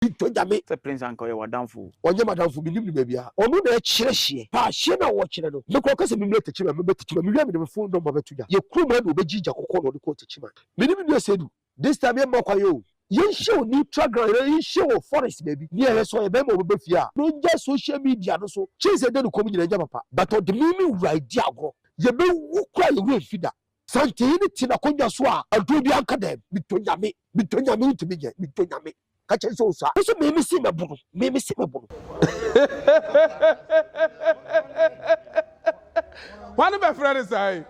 Pinto Nyame. Sɛ Prince anka ɔyɛ w'adamfo o. Ɔnyɛ m'adamfo, mennim no baabi a. Ɔno na ɛkyerɛ hyeɛ. Pa hyeɛ no a wɔkyerɛ no. Mekɔ ɔka sɛ memmra Techiman, mɛba Techiman, mewia mede me phone number bɛto dwa. Yɛ kurom ha na ɔbɛgye gya kɔkɔɔ na ɔde kɔɔ Techiman. Me ne me nua Seydou. This time yɛmma kwan oo. Yɛnhyia wɔ neutral ground anaa yɛnhyia wɔ forest baabi. Nea ɛyɛ sɛ ɔyɛ bɛrima a ɔbɛba fie a, na ɔngyae social media no so. Chase a ɛda ne kɔn mu nyinaa nyɛ papa, but ɔde me me wura redi agorɔ. Yɛbɛwu koraa a yɛn werɛ remfi da. Santee no te n'akonnwa so a, aduro biara nka dɛm. Pinto Nyame. Pinto Nyame wontumi nyɛ. Pinto Nyame. ka kyerɛ sɛ ɔsua nso mimi si mɛbo no mimi si mɛbo no wane bɛfrɛ ne saa yi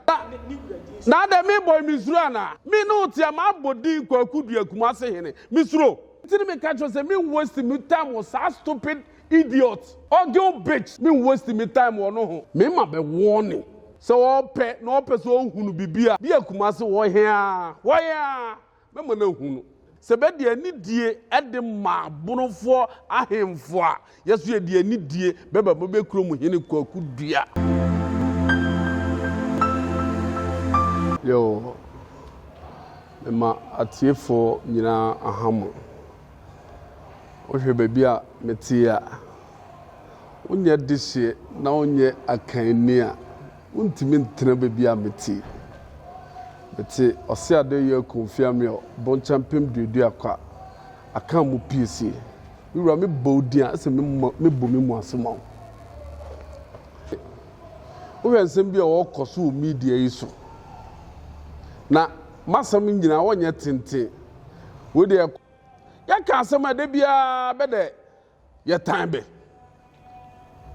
na adɛ mebɔ mesuro anaa me ne wo tea mabɔ din kwaku dua kuma ase hene mesuro nti ne meka kyerɛ sɛ me waste me time wɔ saa stupid idiot ɔgeo bitch me waste me time wɔ no ho mema bɛ warning sɛ ɔpɛ na ɔpɛ sɛ ɔhunu biribi a bi akuma ase wɔ hea wɔ hea Mɛma no ahunu sɛ bɛde anidie de ma Bonofoɔ ahemfo a, yɛ nso yɛde anidie bɛma Bobe kurom hene Kwaku Dua. Yoo, mema atiefoɔ nyinaa aha mo. Wohwɛ baabi a mete a, wonyɛ dehyeɛ na wonyɛ akanni a, Wontumi ntena baabi a mete. Mete ɔse ade yɛ konfia me ɔ bɔnkya mpem duadua kwa akan mo piesie. Me wura me bɔ wo din a ɛsɛ me mo me bɔ me mu ase ma wo. Wohwɛ nsɛm bi a wɔkɔ so wɔ media yi so na masɛm nyinaa wɔnyɛ tenten. Wei deɛ yɛka asɛm a ɛda biara bɛdɛ yɛtan bɛ.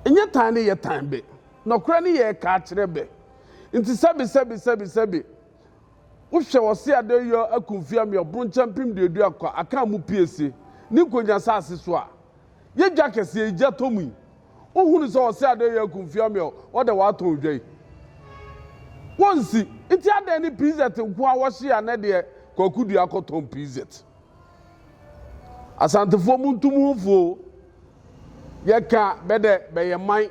Nyɛ tan ne yɛtan bɛ. Nɔkorɛ ne yɛreka akyerɛ bɛ. Nti sɛbe sɛbe sɛbe sɛbe, wohwɛ wɔse adayɔ akumfie ameɔ bronkyɛ mpem duadu akwa aka amu piese ne nkonya saase so a, yɛ dwa kɛseɛ yi gya tɔ mu yi, wohunu sɛ wɔse adayɔ akumfie ameɔ wɔdɛ wɔatɔn odwa yi? Wɔnsi. Nti adɛn ne PZ nko a wɔhye anɛ deɛ Kwaku Duah kɔtɔn PZ? Asantefoɔ montu mo ho fuo. Yɛka bɛdɛ bɛyɛ man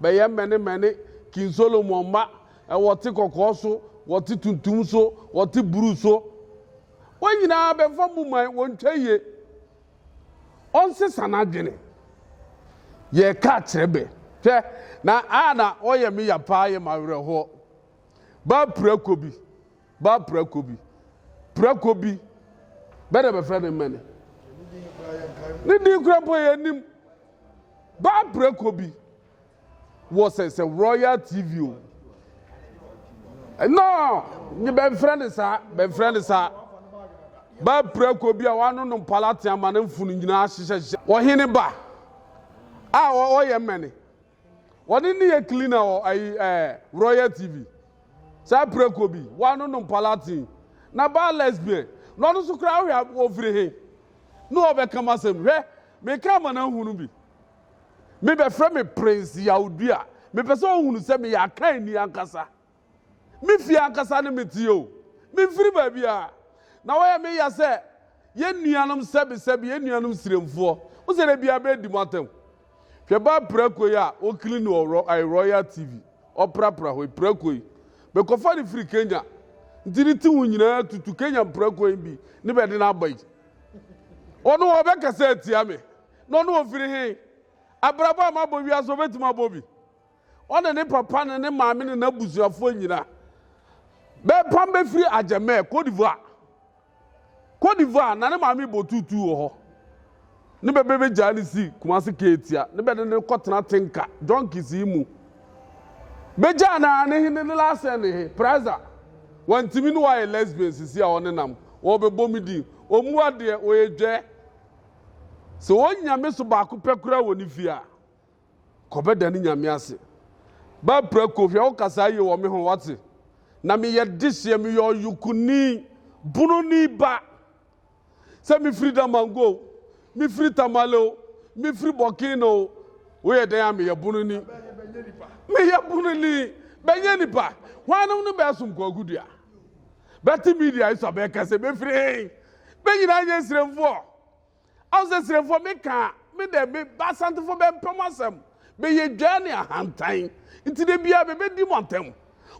bɛyɛ mmɛnemɛne King Solomon mma wɔte kɔkɔɔ so wɔte tuntum so wɔte bruu so wɔn nyinaa bɛmfa mo man wɔntwa yie ɔnsesa n'adwene yɛka kyerɛ bɛ hwɛ na a na ɔyɛ me ya paa yɛ m'awerɛhoɔ baa pirakɔ bi Ba prako bi. Prako bi. Bɛ na bɛfrɛ no mmɛ no. Ne din kura mpo yɛ nim. Ba prako bi. Wɔ sɛ sɛ Royal TV o. No, bɛmfrɛ no saa, bɛmfrɛ no saa. Ba prako bi a wano no mpala te ama ne mfono nyinaa hyehyɛhyehyɛ. Ɔhene ba a ɔyɛ mmɛ no. wɔne ne yɛ cleaner wɔ ayi ɛɛ eh, royal tv saa preko bi wɔano nom palatin na baa lesbian na ɔno nso koraa hwɛ ofiri he na ɔbɛka m asɛm hwɛ meka ama no ahunu bi mebɛfrɛ me prince yawdua mepɛ sɛ ɔhunu sɛ meyɛ akan ni ankasa Me fie ankasa ne me teɛ o, memfiri baabiara. Na wɔyɛ me ya sɛ yɛn nuanom sɛbesɛbe, yɛn nuanom siremfoɔ. Wo sɛ da biara bɛdi mo atɛm. Hwɛ baa prako yi a wɔkili no wɔ Royal TV, ɔprapra hɔ yi, prako yi. Mekɔfa no firi Kenya, nti ne ti ho nyinaa tutu, Kenya mprako yi bi ne bɛde no aba yi. Ɔno ɔbɛkasa atia me, na ɔno ɔfiri he? Abrabɔ a mabɔ wiase, ɔbɛtumi abɔ bi? Ɔne ne papa ne ne maame ne n'abusuafoɔ nyina bɛpam bɛfiri Adjamɛ, Côte d'Ivoire. Côte d'Ivoire na ne maame bɔ tuutuu wɔ hɔ. Ne bɛ bɛbɛgyaa ne si Kumasi Keetia ne bɛde ne kɔtena Tenka, Junkies yi mu. Bɛgyaa no a ne he ne ne last sɛ ne he, Praiza. Wantimi ne wayɛ lesbian sisi a ɔnenam, ɔɔbɛbɔ me din. Ɔmua deɛ, ɔyɛ dwɛɛ. Sɛ ɔnya me so baako pɛ koraa wɔ ne fie a. Kɔbɛda ne Nyame ase. Ba prako hwɛ wo kasaa yie wɔ me ho wate. Na me yɛ dehyeɛ me yɛ ɔyokuni bununi ba. Sɛ me firi damango o, me firi tamale o, me firi bɔkin o, wo yɛ dɛn a me yɛ bununi. Me yɛ bununi bɛnyɛ nipa. Hwanom no bɛɛ som kwaku dua. Bɛte media yi so a bɛɛ kɛse bɛ firi hei. Bɛ nyinaa nyɛ nsiremfoɔ. Asaserefoɔ bɛka me dɛ me ba Asantefoɔ bɛmpɛ mo asɛm. Bɛyɛ dwaa ne ahantan. Nti da biara bɛbɛdi mo atɛm.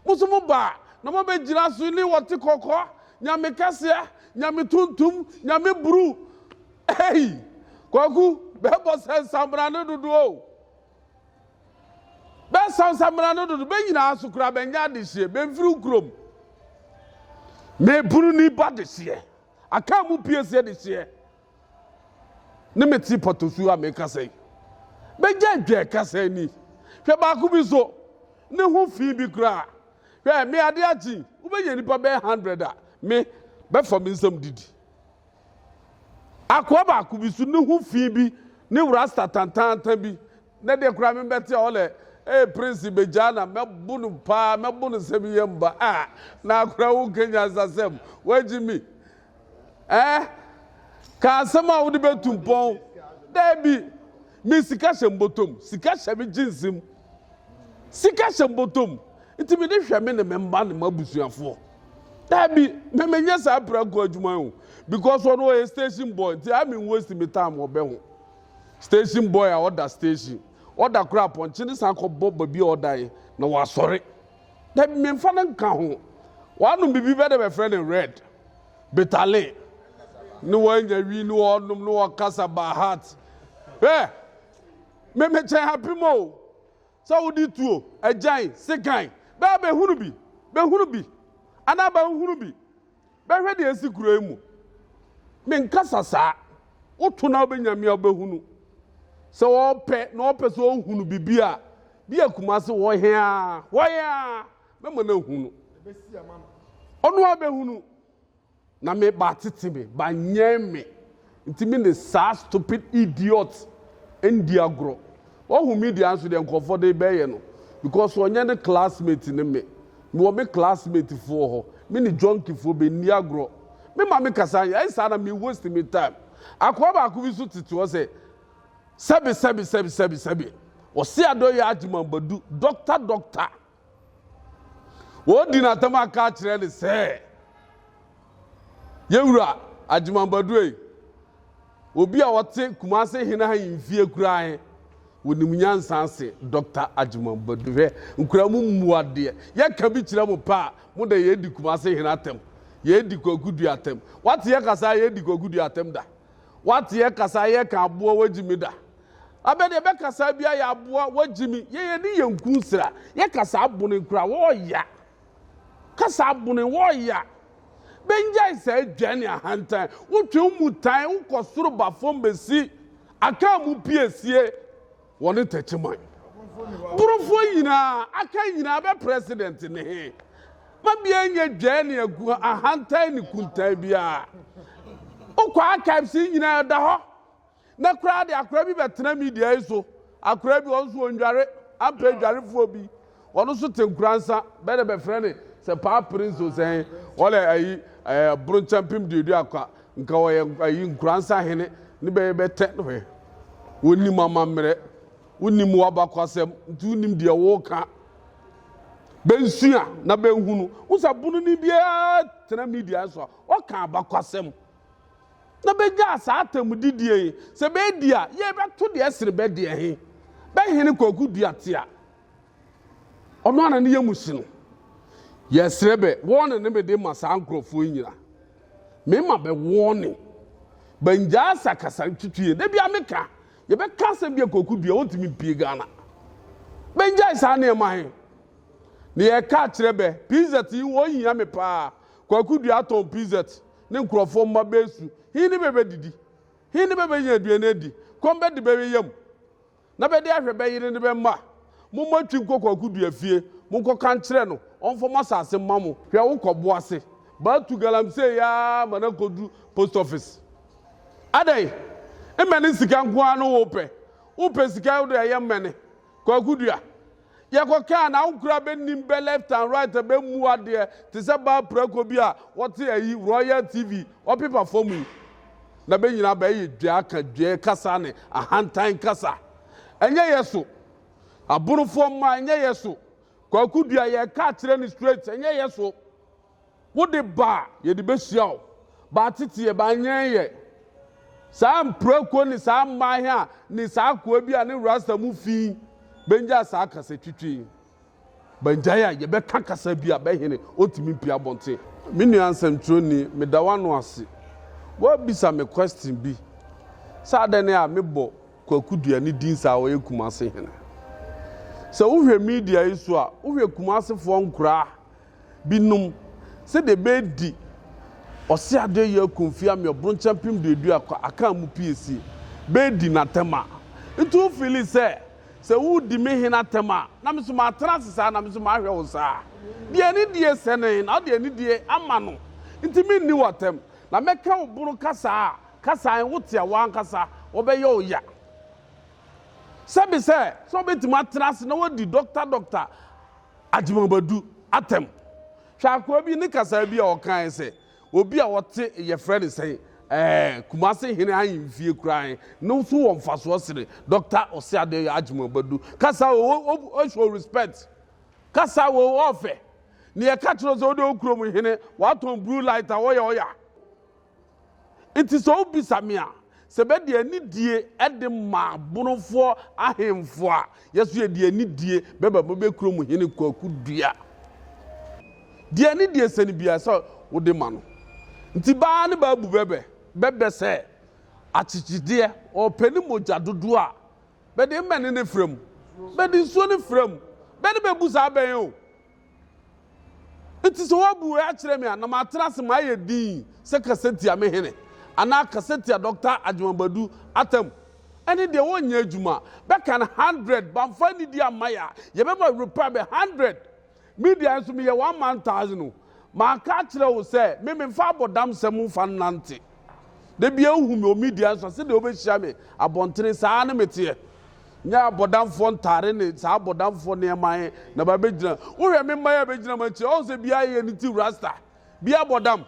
Mo nso mo ba a, na moabɛgyina so ne wɔte kɔkɔ, Nyame kɛseɛ, Nyame tuntum, Nyame bru. Ei! Kwaku, bɛbɔ sɛ nsamena no dodo o. Bɛsa nsamena no dodo. Bɛ nyinaa nso koraa bɛnyɛ adehyeɛ. Bɛmfiri wo kurom. Meburu nnipa dehyeɛ. Akaa mu pie seɛ de hyeɛ. Ne me te pɔtɔsuo a meka sɛ. Bɛgya dwɛ kasa ani. Hwɛ baako bi so. Ne ho fi bi koraa. Hwɛ me ade akye. Wobɛnya nipa bɛyɛ hundred a me bɛfa me nsam didi. Akoa baako bi so ne ho fi bi ne rasta tantaantan bi. Nnɛ deɛ koraa me bɛte a ɔlɛ ee Prince bɛgyaa na mɛbo no paa mɛbo no sɛ me yam ba ah na akora wo nka nyansasɛm wagyi me eh ka asɛm a wode bɛtu mpɔn daabi me sika hyɛ mbotom sika hyɛ me gyinsim sika hyɛ mbotom nti me de hwɛ me ne me mma ne m'abusuafoɔ daabi me menyɛ saa pranko adwuma yi o because ɔno ɔyɛ station boy nti a me waste me time ɔbɛ ho Station boy a ɔda station ɔda kora apɔnkye ne san kɔ bɔ babi a ɔdan na wasɔre na mmefa no nka ho wanom bibi bɛ de bɛfrɛ no red betale ne wanya wi ne ɔnom ne ɔkasa by heart hwɛ memekyɛn happy mo sɛ wode tuo agyan sekan bɛa bɛhunu bi bɛhunu bi anaa bɛhunu bi Bɛhwɛ deɛ asi kuro yi mu. Menkasa saa. Woto na wobɛnya me a wobɛhunu. Sɛ wɔpɛ na wɔpɛ sɛ wɔhunu biribi a, bi a Kumase hɔ hea hɔ hea mɛma no ahunu. Ɔno a bɛhunu. Na me ba tete me, ba nyɛn me. Nti me ne saa stupid idiot ndi agorɔ. Wahu media nso deɛ nkurɔfoɔ de bɛyɛ no because ɔnyɛ ne classmate ne me. Mewɔ me classmate foɔ hɔ. Me ne junkie foɔ bɛnni agorɔ. Me ma me kasa nyɛ ayɛ saa na me waste me time. Akoa baako bi nso tete hɔ sɛ sɛbi sɛbi sɛbi sɛbi sɛbi. Ɔse adɔyɛ agyeman badu doctor doctor. Wɔredi no atɛm aka akyerɛ no sɛ, Yɛn wura Agyeman Baduei, obi a ɔte Kumase hene ha mfie kura he, wonim nyansa se Dɔkta Agyeman Badu. Hwɛ, nkura mu mmuadeɛ. Yɛka bi kyerɛ mo pɛ a, mo de yɛredi Kumase hene atɛm. Yɛredi Kwaku Dua atɛm. Wate yɛkasa a yɛredi Kwaku Dua atɛm da? Wate yɛkasa a yɛka aboa wagyimi da? Abɛ deɛ bɛ kasaa bia yɛ aboa wa gyimi yɛ yɛ ne yɛ nku nsira yɛ kasaa bone kura wɔɔya kasaa bone wɔɔya bɛ ngyae saa dwa ne ahantan wo twe wo mu tan wo kɔ soro ba fɔm bɛ si akaa mu pie sie wɔne tɛkye man borofoɔ nyinaa akaa nyinaa bɛ president ne he ma bia nyɛ dwa ne agu ahantan ne kuntan bia wo kɔ archives nyinaa da hɔ Nnɛ koraa de akora bi bɛtena media yi so. Akora bi, ɔno nso ɔndware, ampɛ adwarefoɔ bi. Ɔno nso te nkoransa, bɛɛ dɛ bɛfrɛ ne sɛ paa prince o sɛ he, ɔlɛ ayi ɛɛ boronkya mpem duadu akwa, nka ɔyɛ ayi nkoransa hene, ne bɛyɛ bɛ tɛ no he. Wonnim amammerɛ, wonnim w'abakɔsɛm, nti wonnim deɛ woka. Bɛnsua na bɛnhunu. Wo sɛ bononi biara tena media so a, ɔka abakɔsɛm. na bɛgyaa saa atamudidie he, sɛ beedi a, yee bɛto deɛ ɛsere bɛ deɛ he, bɛ hene Kwaku Duate a ɔno ara na ne yamu hye no. Yɛsrɛ bɛ wɔɔne ne mede ma saa nkorɔfoɔ yi nyina. Mema bɛ wɔɔne. Bɛngyaa asakasa twitwi he. Da biaa meka, yɛbɛka asɛm bi a Kwaku Dua ɔntumi mpie Ghana. Bɛngyae saa nneɛma he. Na yɛka akyerɛ bɛ, PZ yi, wɔhia me paa. Kwaku Dua atɔn PZ. Ne nkurɔfoɔ mma bɛresu, he ne bɛbɛdidi, he ne bɛbɛnya aduane adi, kɔm bɛde bɛwe yam, na bɛde ahwɛ bɛ yere ne bɛ mma. Mommɔ twi nkɔ kwaku dua fie, monkɔka nkyerɛ no ɔmfa mo asase mma mo. Hwɛ wokɔ boase baa tu galamsey aa ma no akɔduru post office. Adɛn? Mmɛne sika nko ara no wopɛ? Wopɛ sika wode ayɛ mmɛne? Kwaku Dua, Yɛkɔ ka a na wo kura bɛ nim bɛ left and right bɛ mmu adeɛ te sɛ baa prako bi a wɔte ayi Royal TV wɔpepa fam yi. Na bɛ nyinaa bɛ yɛ dwaa ka dwaa kasa ne ahantan kasa. Ɛnyɛ yɛ so. Aborofoɔ mma ɛnyɛ yɛ so. Kwaku Dua, Yɛka akyerɛ no straight ɛnyɛ yɛ so. Wode ba a, yɛde bɛhyia wo. Ba tete yɛ, ba nyɛn yɛ. Saa mprako ne saa mmaeɛ a ne saa akoa bi a ne rasta mu fi bɛngyaa saa kasatwitwi. Bangyae a yɛbɛka kasa bi a bɛhene ɔntumi mpia abɔnten. Me nua nsɛmtwerɛni, meda w'ano ase. Woabisa me question bi sɛ adɛn ne a mebɔ Kwaku Duani din saa a ɔyɛ Kumase hene. Sɛ wohwɛ media yi so a, wohwɛ Kumasefoɔ nkoraa Binom, sɛdeɛ ɛbɛɛdi ɔse adeɛ yɛ aku mfeɛ ame ɔbronkyɛ mpem duadu akɔ akaa mu pie sie bɛɛdi natɛm a. Nti wo feeli sɛ sɛ wo redi me hene atɛm a na me nso maa tena ase saa na me nso maa hwɛ wo saa? Deɛ anidie sɛ no he na wode anidie ama no nti me nni wo atɛm na mɛ ka wo boro kasaa a kasaa he wo te a wo ankasa wɔ bɛ yɛ wo ya sɛbe sɛ sɛ wo bɛtumi atena ase na wadi dɔkta dɔkta Agyemabadu atɛm. Hwɛ akoa bi ne kasaa bi a ɔkae sɛ, Obi a ɔte yɛfrɛ no sɛn? Ɛɛ, Kumase hene ahemfie koraa he, no so wɔ mfasoɔ sene Dɔkta Oseadeoye Agyemabadu kasa o, o, o, o show respect. Kasa o, ɔɔfɛ. Neɛ ɛka kyerɛ wo sɛ wode wo kurom hene, watɔn bruu light a, ɔya, ɔya. Enti sɛ wobisa me a, sɛ bɛde anidie de ma abonofoɔ ahemfo a, yɛ nso yɛde anidie bɛba mo bɛ kurom hene Kwaku Dua. Deɛ anidie sɛne biara sɛ wode ma no. Nti baa ne baa bu bɛbɛ, bɛbɛ sɛ akyekyedeɛ, ɔpɛ ne mogya dodoɔ a, bɛde mmɛne ne frɛ mu, bɛde nsuo ne frɛ mu, bɛ ne bɛbu saa bɛn o. Enti sɛ woabu wei akyerɛ me a, na matena ase mayɛ dinn sɛ kasatia me hene, anaa kasatia Dɔkta Agyemang-Badu atam. Ɛne deɛ wɔnnyɛ adwuma. Bɛkan hundred, bamfa anidie amma yɛ a, yɛbɛma repair bɛ hundred. Me deɛ nso meyɛ one man thousand o. Manka akyerɛ wo sɛ me memfa abɔdamsɛm mfa nnante. Da biara wohu me wɔ media nso a, sɛdeɛ wobɛhyia me abɔntene saa ara ne meteɛ. Nyɛ abɔdamfoɔ ntaare ne saa abɔdamfoɔ nneɛma he na bɛabɛgyina. Wohwɛ me mma yi a bɛgyina m'akyi a, ɔhu sɛ biaa yɛ ne ti rasta, biaa bɔ dam,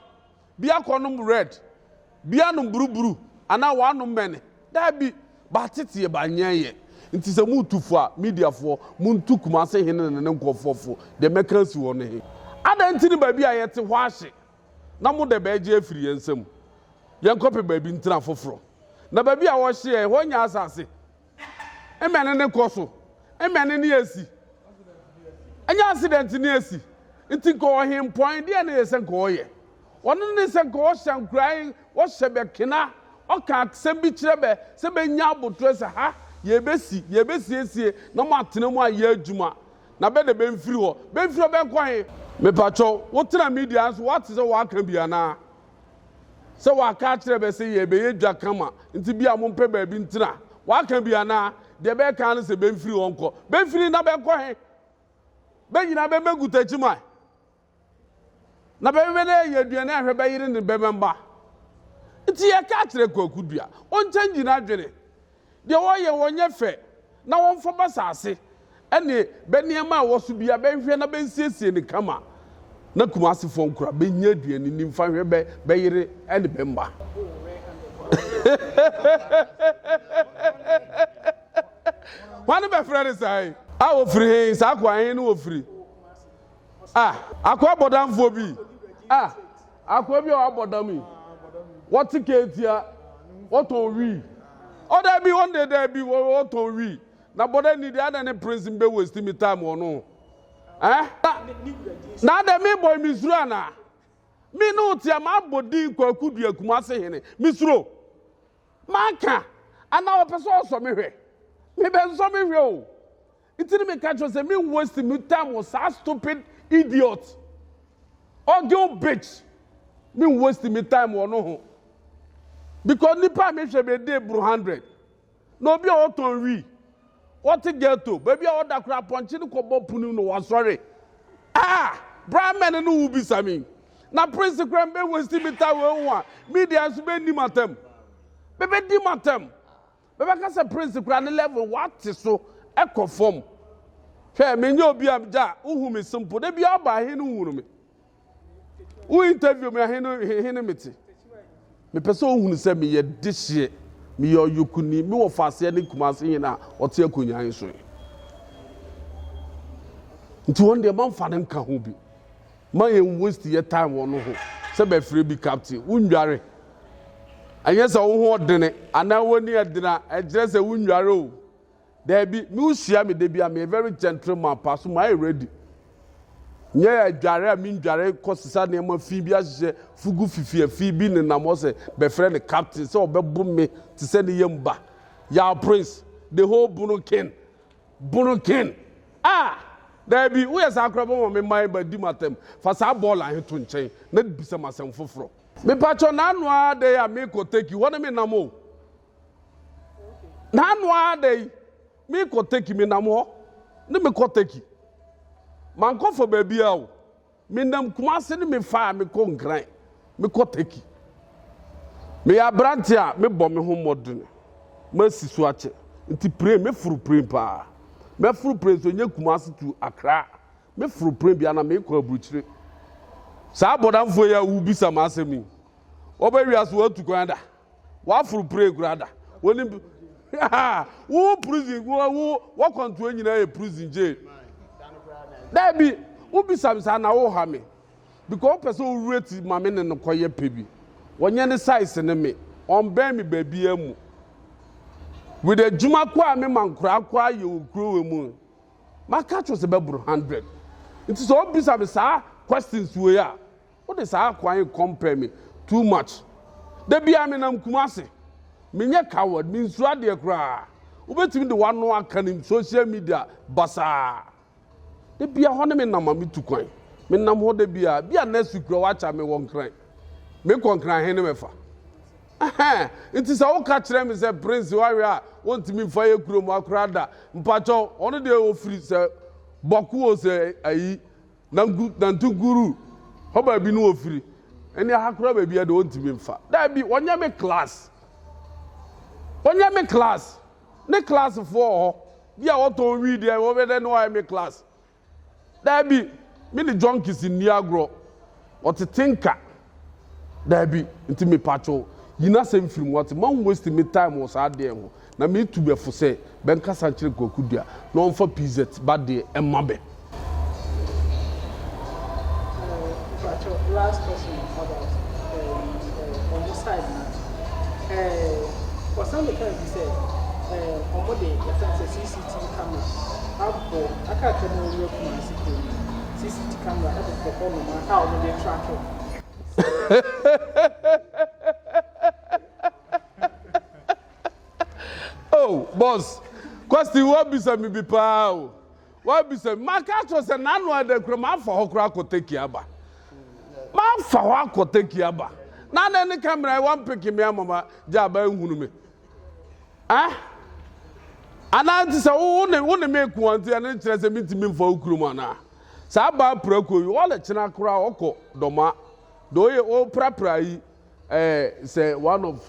biaa kɔnom red, biaa nom buruburu anaa wɔanom mɛne. Daabi, bɛateteɛ, bɛanyɛ yɛ. Nti sɛ motu fo a, mediafoɔ, montu Kumase he ne ne nkorɔfoɔ fo, deɛ mɛka asi hɔ no he. Adɛn nti ne baabi a yɛte hɔ ahye? Na mo dɛ bɛɛgye afiri yɛn nsam, yɛnkɔpɛ baabi ntena foforɔ. Na baabi a wɔhye yɛn, ɛhɔ nyɛ asase? Mmɛne ne kɔ so, mmɛne ne asi, ɛnyɛ asedɛnte ne asi. Nti nkɔɔ hempɔn, deɛ ne yɛ sɛ nkɔɔ yɛ. Wɔno ne sɛ nkɔɔ hyɛ nkorae, wɔhyɛ bɛ kena, wɔka asɛm bi kyerɛ bɛ, sɛ bɛnya abotorɛ sɛ, Ha, yɛɛbɛsi, yɛɛbɛsiesie, na moatena mu ayɛ adwuma. na bɛ de bɛ mfiri hɔ. Bɛ mfiri hɔ bɛ nkɔ he? Mepakyɛw, wo tena media he so, woate sɛ wɔaka bi anaa? Sɛ wɔaka akyerɛ bɛ se yɛɛbɛyɛ dwa kama, nti bia mo mpɛ baabi ntena. Wɔaka bi anaa? Deɛ bɛ ka ara ne sɛ bɛ mfiri hɔ nkɔ. Bɛ mfiri na bɛ nkɔ he? Bɛ nyinaa bɛ mmɛ gutakyi mae. Na bɛhwehwɛ dɛ yɛyɛ aduan a hwɛ bɛyere ne bɛma mba. Ntsi yɛkaa kyerɛɛ Kwaku Dua, ɔnkyɛngye n'adwene, deɛ wɔyɛ wɔnyɛ fɛ, na wɔmfa b'asaase ne b'nneɛma a ɛwɔ so biara bɛhwehwɛ na bɛnsiesie no kama na Kumasefoɔ nkora bɛnya aduan nni mfa nhwɛ bɛ bɛyere ne bɛ mma. Hwane bɛfrɛ no saa yi? A wɔfiri he? Saa akoa he ne wɔfiri? Ah, akoa bɔdamfoɔ bi. Ah, akoa bi a wabɔ dam yi. Wɔte keetia, wɔtɔn wii. Ɔ daabi, wɔn deɛ daabi, wɔtɔn wii. Na bɔda ni deɛ adɛ ne prince mi bɛ waste mi time wɔ no. Eh? Na adɛ mi bɔ mi suro ana? Mi ne otia ma abɔ din kwaku dua kumase hene. Mi suro. Ma ka. Ana wɔpɛ sɛ ɔsɔ me hwɛ. Me bɛ nsɔ me hwɛ o. Nti na meka kyerɛ sɛ me waste me time wɔ saa stupid idiot ogil bitch me waste me time wɔ no ho because nipa a mehwɛ bɛ de bro hundred na obi a ɔtɔn wi ɔte ghetto baabi a ɔda koraa pɔnkye no kɔbɔ punu na wasɔre ah bra mɛne no wo bisa me na prince koraa mbɛ waste me time wɔ ho a media nso bɛ nim atam bɛbɛ dim atam Mɛbɛka sɛ prince koraa ne level wate so kɔ fam hwɛ menyɛ obi a gya wohu me simple da bi aba ahe no hunu me wo interview me ahe no he ne mete mepɛ sɛ ohunu sɛ meyɛ dehyeɛ meyɛ ɔyokuni me wɔ faaseɛ ne kuma ase he na ɔte akonnwa he so he nti wɔn deɛ mamfa no nka ho bi ma yɛn waste yɛ time wɔn ho sɛ bɛfrɛ bi captain wondware Ɛnyɛ sɛ wo ho ɔdene anaa w'ani adene a ɛkyerɛ sɛ wonware o. Daabi, me wohyia me da bi a meyɛ very gentle man paa so mayɛ ready. Nyɛ adware a mendware kɔsesa nneɛma fi bi ahyehyɛ fugu fifi afi bi nenam hɔ sɛ bɛfrɛ no captain sɛ ɔbɛbo me te sɛ ne yam ba. Yaw prince, the whole bono king, bono king. Ah! Daabi, woyɛ saa koraa bɛma me mmae ba di m'atam. Fa saa bɔɔla he to nkyɛn na bisa m'asɛm foforɔ. Mepatwɔ n'ano ara dɛ a mekɔ Turkey hɔ no me nam o. N'ano ara dɛ yi mekɔ Turkey me nam hɔ ne mekɔ Turkey. Mankɔfa baabi a o. Me nam Kumase ne mefa a mekɔ Nkran mekɔ Turkey. Meyɛ aberante a mebɔ me ho mmɔdene masi so akyɛ nti pren meforo pren paa. Mɛforo pren so ɛnyɛ Kumase to Accra Me foro pene bia na mekɔ aburukyire saa abɔdanfoɔ yi a wobisa ma asɛm yi wɔbɛ wiase wɔatu kwan da wɔaforo pene kura da wɔni wo prison wo wɔkwantoɔ nyinaa yɛ prison jail daabi wobisa me saa na woha me because wopɛ sɛ wowura ti ma me ne no kɔyɛ pɛ bi wɔnyɛ ne size ne me ɔmbɛn me baabi amu with adwuma kɔ a me ma nkoraa kɔ ayɛ wɔ kurowa mu maka akyerɛ sɛ bɛboro hundred nti sɛ ɔbisa me saa questions wei a wode saa kwan yi compare me too much da biara menam Kumase menyɛ coward mensuo adeɛ koraa wobɛtumi de wano aka ne social media basaa da biara hɔ ne menam a metu kwan menam hɔ da biara bi a next week kura wakya me wɔ nkran mekɔ nkran he ne mɛfa Ɛhɛn, ntsi sɛ woka kyerɛ me sɛ Prince ɔawe a wonntumi mmfa yɛ kurom ha koraa da, mpakyɛw, ɔno deɛ ofiri sɛ Bɔko o sɛ ayi, Nanku, Nantunkuru, hɔ baabi no ofiri, ɛnneɛ ha koraa baabiara deɛ ɔnntumi mmfa, daabi, ɔnyɛ me class, ɔnyɛ me class, ne classfoɔ wɔ hɔ bi a wɔtɔn weed a wɔbɛyɛ dɛ na wɔayɛ me class, Daabi, me ne junkies nni agorɔ. Wɔtete nka. Daabi, nti mepatwo, yi n'asɛm firi mu, wate, ma wɔnwaste me time wɔ saa adeɛ ho. Na metu bɛ fo sɛ, bɛnkasa nkyerɛ Kwaku Dua na ɔmfa PZ ba deɛ mma bɛ. Mpakyɛw, last question about eh, eh, ɔmo side no. Eh, wɔsan bɛkaa bi sɛ, eh, ɔmo de, yɛfrɛ no sɛ CC. Tisi Camera abɔ aka atwa mu awura Kumasi kuro no mu. CCT camera ɛbobɔ hɔ nom a wɔn de track wɔn. oh boss kwasi wabisa mi bi paa o wabisa mi maka akyerɛ sɛ n'ano ada kura mafa hɔ kura akɔ teki aba mafa hɔ akɔ teki aba na na ne camera wɔn peke mi ama ma gya aba ehunu mi. Eh? Anaa nti sɛ wo ne wo ne me nko a nti ɛno kyerɛ sɛ mentumi mfa wo kurom anaa? Saa baa prako yi ɔle kyena koraa ɔkɔ dɔma de ɔyɛ ɔprapra yi eh, sɛ one of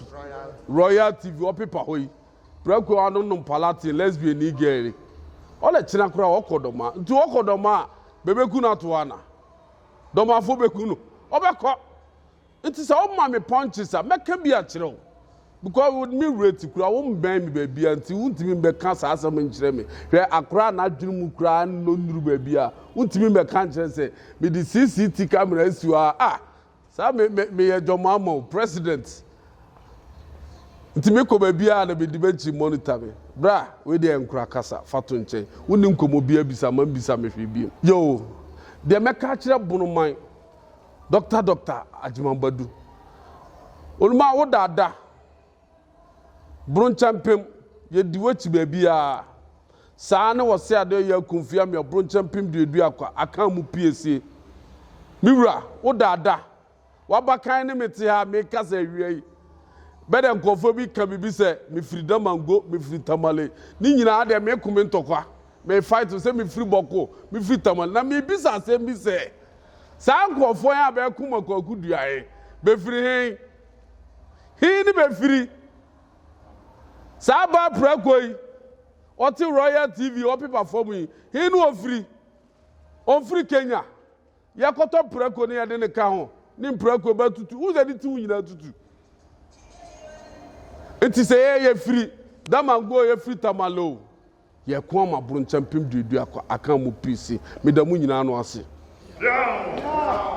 royal tv ɔpepa hɔ yi prako ano nom palatin lesbian ni gɛri ɔle kyena koraa ɔkɔ dɔma nti ɔkɔ dɔma a bɛbɛku no ato ana dɔmafo bɛku no ɔbɛkɔ Nti sɛ woma me punches a mɛka bi akyerɛ wo because wo me rate kura wo mbɛn me baabi a nti wontumi mbɛka saa asɛm nkyerɛ me hwɛ akora a n'adwene mu koraa nnɔ nnuru baabi a wontumi mbɛka nkyerɛ sɛ mede CCT camera asi hɔ a ah saa me me meyɛ dwɔmo ama wo president nti mekɔ baabi a na bedi m'akyi monitor me bra wei deɛ nkora kasa fa to nkyɛn wonni nkɔmmɔ bi abisa ma mbisa me hwee biem yoo deɛ mɛka akyerɛ bonoman Doctor Doctor Agyemang-Badu. Onuma wo dada. Bronkyɛmpem, yɛdi w'akyi baabiara. Saa ne wɔse ade ɔyɛ akumfie amea bronkyɛmpem duadua kwa akan mu piesie. Me wura, wo dada. W'abakan ne me te ha a mekasa awia yi. Bɛdɛ nkurɔfoɔ bi ka biribi sɛ mefiri Damango, mefiri Tamale. Ne nyinaa deɛ meko me ntɔkwa. Me fight sɛ mefiri Bɔko, mefiri Tamale. Na mebisa asɛm bi sɛ, Saa nkurɔfoɔ he a bɛɛko Mako akodua he, befiri he? He ne befiri? Saa baa prako yi, ɔte Royal TV wallpaper fam yi, he ne ofiri? Omfiri Kenya. Yɛkɔtɔ prako ne yɛde ne ka ho, ne mprako ba tutu. Wohu sɛ ne ti ho nyinaa tutu. Nti sɛ yɛyɛ firi Damango, yɛfiri Tamale o. Yɛko ama aboronkya mpem duadua kwa aka mo pii se meda mo nyinaa ano ase.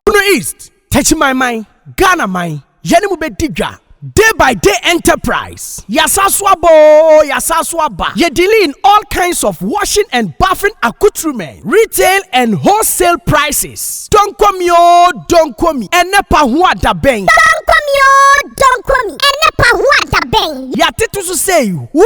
Bono East, Techimanman, Ghana man, yɛne mo bɛdi dwa, Day by Day Enterprise, yɛasan so aba oo, yɛasan so aba, yɛ dealing in all kinds of washing and bathing accoutrement, retail and wholesale prices, Donkomi oo, Donkomi, ɛnɛ pa ho adabɛn. Donkomi oo, Donkomi, ɛnɛ pa ho adabɛn. Yɛatete so sei, who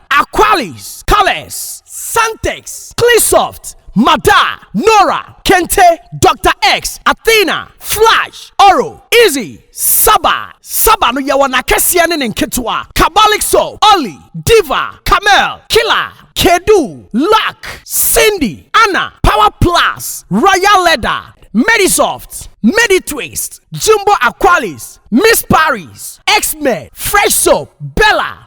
Aqualis, Calex, Santex, Cleansoft, Mada, Nora, Kente, Doctor X, Athena, Flash, Oro, Easy, Saba, Saba no yɛwɔ n'akɛseɛ ne ne nketewa, Kabalik Soap, Olly, Diva, Camel, Killer, Kedu, Luck, Cindy, Anna, Power Plus, Royal Leather, Medisoft, Meditwist, Jumbo Aqualis, Miss Paris, X-Men, Fresh Soap, Bella,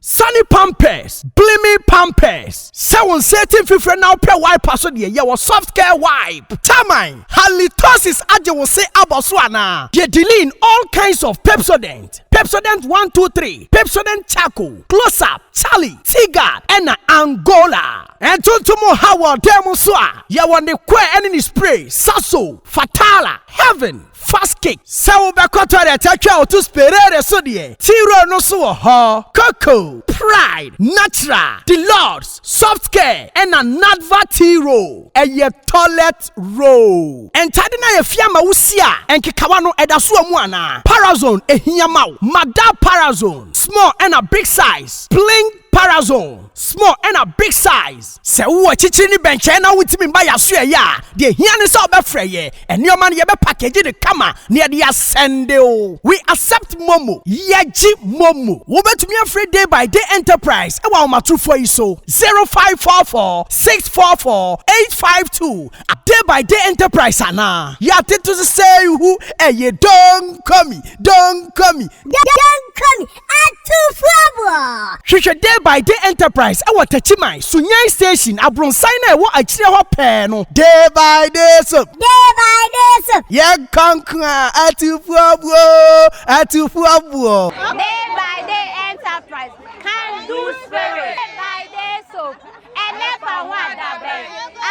Sane pampers, Gleaming pampers, Sɛ wo nsa ati mfifire na wopɛ wiper so deɛ, yɛ wɔ Soft Care Wipe. Termine, Halitosis agye wo se abɔ so anaa? Deɛ Deline, All kinds of Pepsodent, Pepsodent one two three, Pepsodent Charcoal, Close Up, Charlie, Teaguard, ɛna Angola. Ntontom nhaw wɔ dan mu nso a, yɛ wɔ ne coir ɛne ne spray, Saso, Fatala, Heaven. Fast kick, Sɛ wobɛkɔ toilet atwa wo to sperere so deɛ, T-Roll no nso wɔ hɔ. Koko, Pride, Natural, The Lords, Soft Care, ɛna Nadva T-Roll. Ɛyɛ toilet roll. Ntade no ayɛ fi ama wo si a, nkekawa no, ɛda so wɔ mu anaa? Parazone, Ɛhia ma wo. Madar Parazone, Small ɛna Big Size, Bling. Parazone, small ɛna big size. Sɛ wowɔ akyirikyiri ne bɛnkyɛn na wontumi mma yɛn asoɛeɛ a, deɛ ɛhia ne sɛ wobɛfrɛ yɛn. Nneɛma no, yɛbɛpakegye no kama na yɛde asɛnde wo. We accept Momo. Yɛgye Momo. Wobɛtumi afrɛ Day by Day Enterprise wɔ ahomatorofoɔ yi so, 0544 644 852. Day by Day Enterprise anaa? Yɛatete so sɛ ihu, ɛyɛ Don't call me, don't call me. Don't call me. Atufoɔ! Hwehwɛ Day by Day Enterprise wɔ Takyiman, Sunyani Station, abronsan no a ɛwɔ akyire hɔ pɛɛ no. Day by Day Soap. Day by Day Soap. Yɛn kɔnkɔn a, Atufoɔboɔ oo, Atufoɔboɔ. Day by Day Enterprise, Can Do Spirit. Day by Day Soap, Ɛnɛ fa ho adabɛn,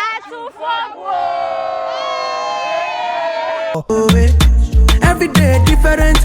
Atufoɔboɔ oo. Every day different.